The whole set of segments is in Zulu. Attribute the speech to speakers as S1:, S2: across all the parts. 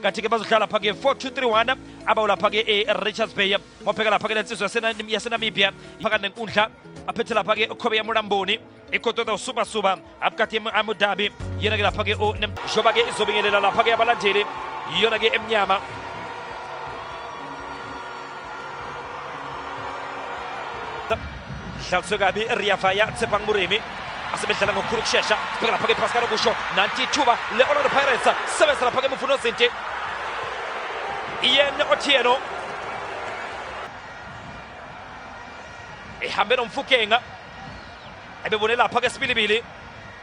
S1: kanti-ke bazodlala lapha-ke 4231 abawu lapha-ke e-richards bay mophe-ke lapha-ke le nsizwa yasenamibia phakathi nenkundla aphethe lapha-ke ukhobe yamulamboni ikotoda usubasuba abukati amudabi yena-ke lapha-ke njengoba-ke izobingelela lapha-ke abalandeli yiyona-ke emnyama Dlaliswe kabi Riavaya Tsepang Murimi asebedlala ngokukhulu ukushesha sibheka lapha ke-pascal okusho nanti ithuba le-orlando pirates sebenzisa lapha ke-mvuno zinti ian otieno ehambe nomfukenga ebebone lapha ke sibilibili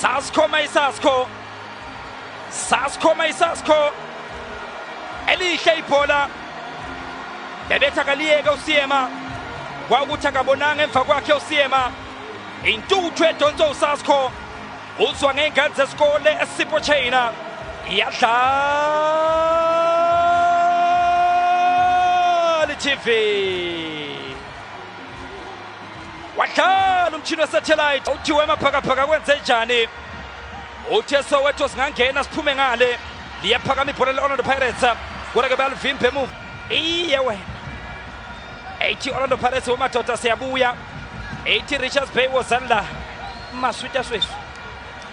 S1: Sasko Mayisasko Sasko Mayisasko elihle ibhola bebethi akaliyeke usiyema kwawukuthi akabonanga emva kwakhe usiyema intuthu edonso usasko uzwa ngey'ngane zesikole esipho china iyadlala itv wadlala umtshini wesathelayithi uthiwe emaphakaphaka kwenze njani uthe soweto singangena siphume ngale liyaphakama ibhola le-orlando pirates kodwa ke bayalivimba emuva iye wena ethi orlando pirates wemadoda siyabuya ethi richards bay wozani la maswita swethu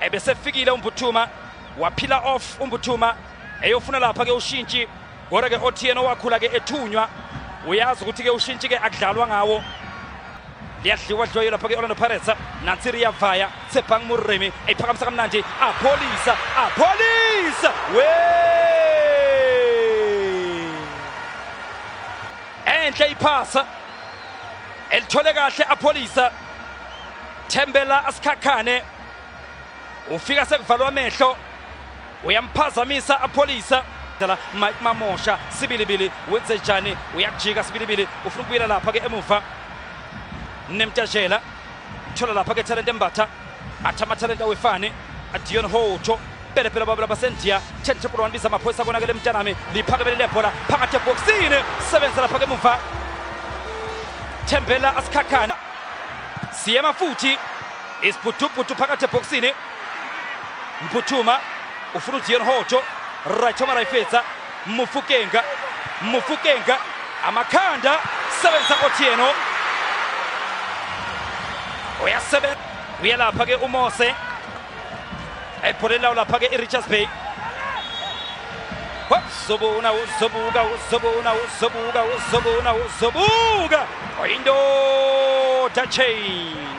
S1: ebesefikile umbuthuma waphila off umbuthuma eyofuna lapha ke ushintshi kodwa ke othiyena owakhula ke ethunywa uyazi ukuthi ke ushintshi ke akudlalwa ngawo liyadliwa dliwayo lapha ke orlando pirates nansi riyavaya sebhang murimi eyiphakamisa kamnandi apholisa apholisa we enhle iphasa elithole kahle apholisa thembela asikhakhane ufika sekuvalwa amehlo uyamphazamisa apholisa dala Mike Mamosha sibilibili wenze njani uyakujika sibilibili ufuna ukubuyela lapha ke emuva nemtajela thola lapha ke talent embatha athi amathalente awefani adion hotsho pelepele babela basendiya tsheni tshepolo wanibisa amaphoyisa konakele mntanami liphakemele lebhola phakathi ebhokisini sebenza lapha ke emuva thembela asikhakhana siyema futhi isiphuthuphuthu phakathi ebhokisini mphuthuma ufuna uzion hotsho rayithoma rayifeza mufukenga mufukenga amakhanda sebenza kothiyeno uyasebenza uyalapha ke umose ebholeni lawo lapha ke i-richards bay uzobona uzobuka uzobona uzobuka uzobona uzobuka oyindoda chain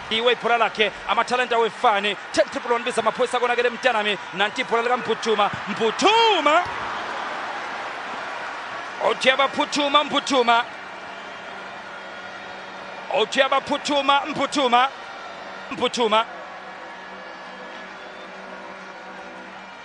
S1: iwe ibhola lakhe amathalenta wefani 10 triple one biza amaphoyisa konakele mntanami nanti ibhola likamphutshuma mphutshuma othi abaphuthuma mphuthuma othi abaphuthuma mphuthuma mphuthuma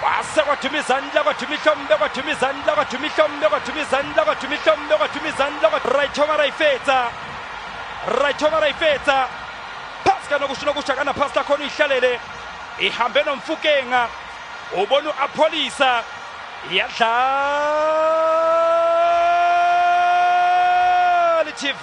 S1: kwase kwaduma izandla kwaduma ihlombe kwaduma izandla kwaduma ihlombe kwaduma izandla kwaduma ihlombe kwaduma izandla rayithoma rayifetsa rayithoma rayifetsa phasi kanokusho nokusho akanaphasi lakhona uyihlalele ihambe nomfukenga ubona u-apholisa yadlali tv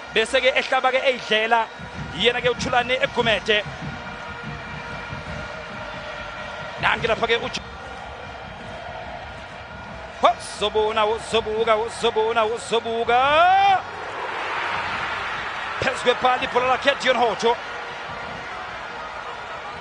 S1: bese ke ehlaba ke eyidlela yena ke uthulane egumede nange lapha ke uj zobona uzobuka uzobona uzobuka phezu kwepali ibhola lakhe dion hoto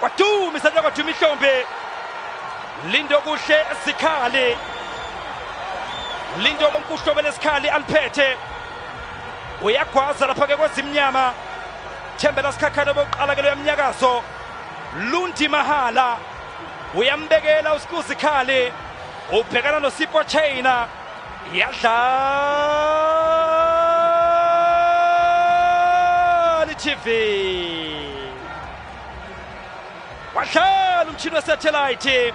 S1: Kwaduma isandla kwaduma ihlombe. Lindo kuhle sikhali. Lindo konkuhlobe lesikhali aliphethe. Uyagwaza lapha ke kwezimnyama. Thembela sikhakhane bokuqala ke loyamnyakazo. Lundi Mahala uyambekela uSikuzikhali ubhekana noSipo Chaina yadlala iTV wadlala umshini wesathelayithi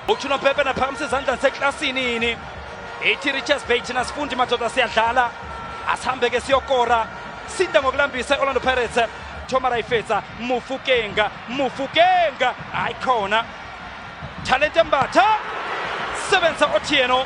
S1: uthuna bhebhe naphakamisa izandla seklasini ini ethi richards bay thina sifundi madoda siyadlala asihambe-ke siyokora sinda ngokulambisa i-orlando pirates thoma rayifetsa mufukenga mufukenga hayi khona talente mbatha sebenzisa otieno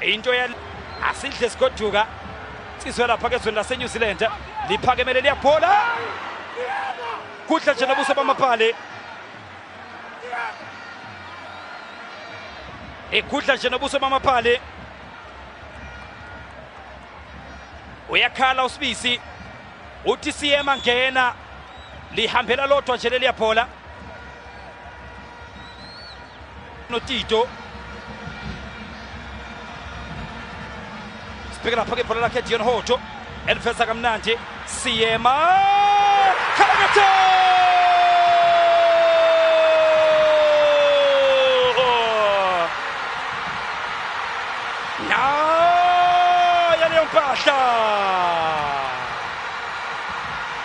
S1: into ya asidle sigoduka ciswe lapha kezweni lasenew zealand liphakemele liyabhola kudla nje nobuso bamapali egudla nje nobuso bamapali uyakhala usibisi uthi siyema ngena lihambela lodwa nje leliyabhola notito sibheke lapha ke ibhola lakhe dion hoto elifesa kamnandi siyema khalakatha naya leyo mpahla